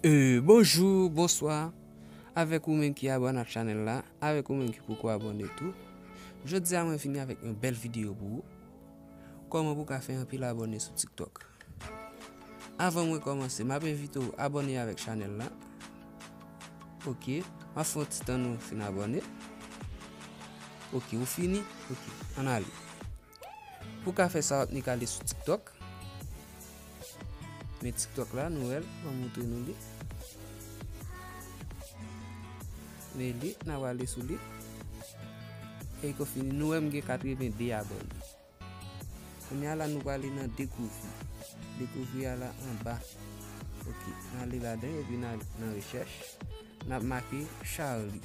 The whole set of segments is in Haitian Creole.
Bonjour bonsoir avèk ou menm ki abone ak chanèl la avèk ou menm ki poko abone tou jodi a mwen vini avèk yon bèl video pou ou. Kòman pou ka fè anpil abòne sou tiktok Avan mwen kòmanse map envite w abòne avèk chanèl la Ok map fè yon ti tan nou fin abòne Ok ou fini ok ann ale Pou ka fè sa wap nik ale sou tiktok. Men tiktok la nou wèl mwen moutre nou li. Men li nan wale sou li. E kou fini nou wèm gen 82 abone. Kounye ala nou wale nan dekouvri. Dekouvri ala anba. Ok nan li la den epi nan rechèch. Nan make Charlie.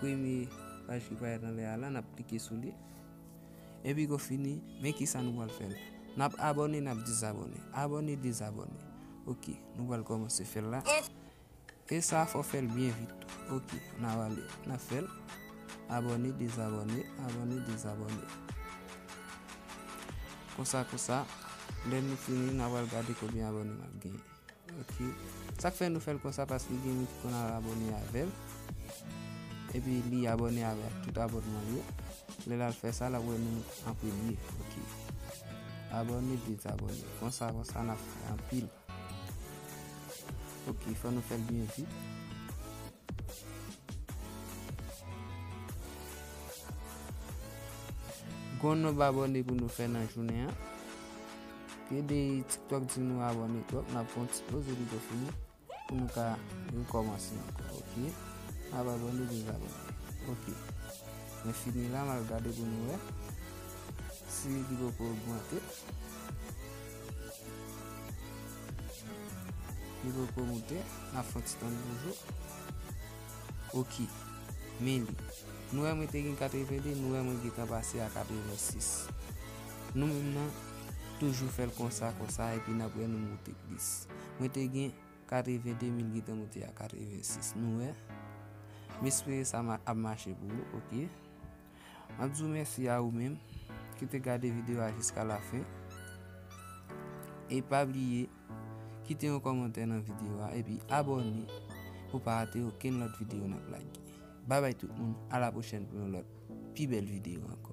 premye paj ki parèt anlè a la, n ap klike sou li. Epi kou fini, men ki sa nou pral fè la. N ap abòne, n ap dezabòne. Abòne, dezabòne. Ok, nou pral kòmanse fè l la. E sa a fò fè l byen vit tou. Ok, n ap ale, n ap fè l. Abòne, dezabòne. Abòne, dezabòne. Konsa konsa, lè nou fini, n ap al gade konbyen abòne n ap genyen. Ok sak fè nou fèl konsa paske gen moun ki konn al abòne avèl epi li abòne avèk tout abònmanl yo lèl al fè sa lap wè nou an premye ok abòne dezabòne konsa konsa nap fè anpil ok fò nou fèl byen vit Gon nonb abone pou nou fè nan jounen an. Kede tiktok di nou abone twòp nan pon ti poz epi to fini pou nou ka nou kòmanse an. Ok. Nan abone di nou abone. Ok. Men fini la mal gade pou nou e. Si li pou pou augmente. Li poko moute, nap fè yon ti tann toujou. Ok, men li. Nou wè mwen te gen 82, nou wè mwen gentan pase a 86. Nou menm nan, toujou fèl konsa konsa epi nap wè nou moute plis. Mwen te gen 82, men li gentan moute a 86, nou wè. M espere sa ap mache pou ou, ok. Map di w mèsi a ou menm ki te gade video a jiska la fen e pa bliye kite yon kòmantè nan video a epi abòne pou pa rate okenn lòt video nap lage. Babay tout moun, a la pwochèn pou yon lòt pi bèl video ankò.